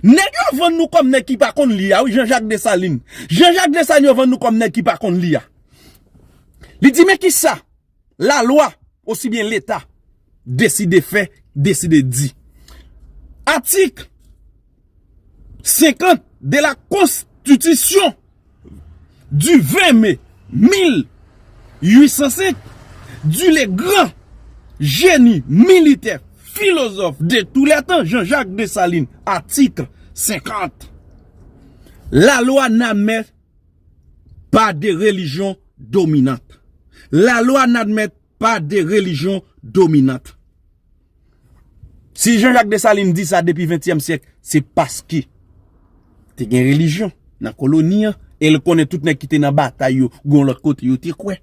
Nèg yo vann nou kòm nèg ki pa konn li a wi Jean Jacques Dessalines. Jean Jacques Dessalines yo vann nou kòm nèg ki pa konn li a. Li di men kisa la lwa osi byen leta deside fè, deside di. Atik 50 de la konstitisyon. Du 20 mai 1805, du le gran jeni militè, filozòf de tou lè tan Jean-Jacques Dessalines, article 50, La loi n'admet pas de religion dominante. La loi n'admet pas de religion dominante. Si Jean Jacques Dessalines di sa depi 20 tièm sièk se paske te gen relijyon nan koloni an e l konnen tout nèg ki te nan batay yo gon lòt kote yo te kwè.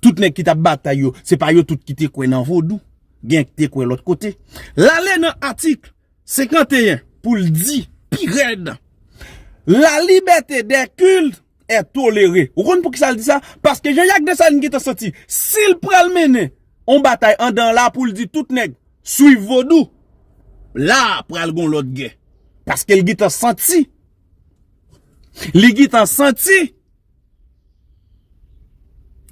Tout nèg ki tap batay yo se pa yo tout ki te kwè nan vodou gen ki te kwè lòt kote. L ale nan atik 51 pou l di pi rèd la libète dè kilt. è tolere. Ou konn poukisa l di sa? Paske Jean Jacques Dessalines gentan santi, si l pral mennen yon batay andan la pou l di tout nèg swiv vodou, la pral gen yon lòt gè. Paske l gentan santi, li gentan santi,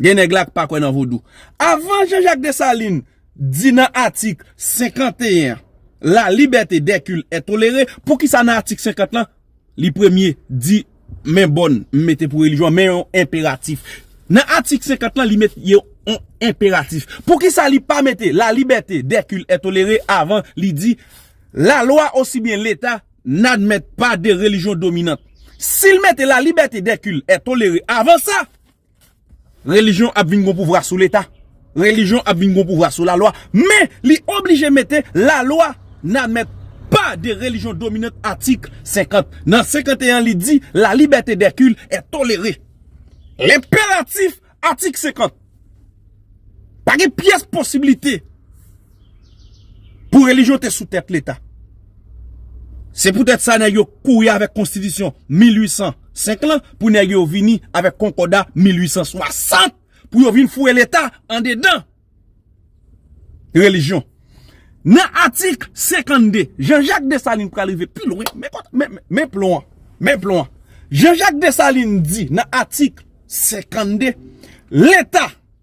gen nèg la k pa kwè nan vodou. Avan Jean Jacques Dessalines di nan atik 51 an, la libète dè kil è tolere, poukisa nan atik 50 lan, Li premye di men bòn m mete pou relijyon an men yon enperatif. Nan atik 50 lan li met yon enperatif. Poukisa li pa mete la libète dè kilt è tolere avan li di la lwa osi byen leta n'admèt pa de relijyon dominant. Si l mete la libète dè kilt è tolere avan sa. Relijyon ap vin gon pouvwa sou leta, relijyon ap vin gon pouvwa sou lalwa, men li oblije mete lalwa nan men pa de relijyon dominant atik 50 nan 51 an li di la libète dè kil è tolere lenperatif atik 50 pa gen pyès posibilite. Pou relijyon te sou tèt leta. Se pou tèt sa nèg yo kouri avèk konstitisyon 1805 lan pou nèg yo vini avèk konkòda 1860 pou yo vin foure leta andedan relijyon. Nan atik 52, Jean Jacques Dessalines pral rive pi lwen, men plon an, men plon an. Jean Jacques Dessalines di nan atik 52, leta.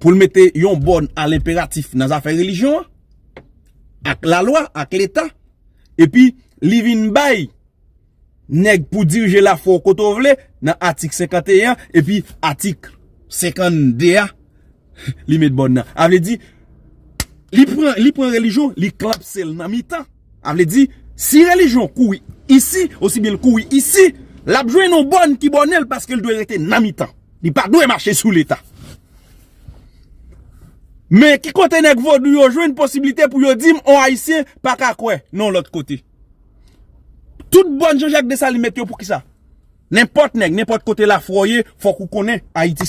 pou l mete yon bòn a l enperatif nan zafè relijyon an, ak lalwa, ak leta, epi li vin bay nèg pou dirije lafwa w kote w vle nan atik 51 an, epi atik 52 a, li met bòn nan. A vle di, li pran relijyon, li klapse l nan mitan. A vle di, si relijyon kouri isi, osi byen l kouri isi, l ap jwenn yon bòn ki bòne l paske l dwe rete nan mitan. Li pa dwe mache sou Leta. Men, ki kote nèg vodou yo jwenn posiblite pou yo di m yon Ayisyen pa ka kwè nan yon lòt kote? Tout bòn Jean-Jacques Dessalines mèt yo pou ki sa? Nenpòt nèg, nenpòt kote lafwa w ye, fòk ou konnen Ayiti se.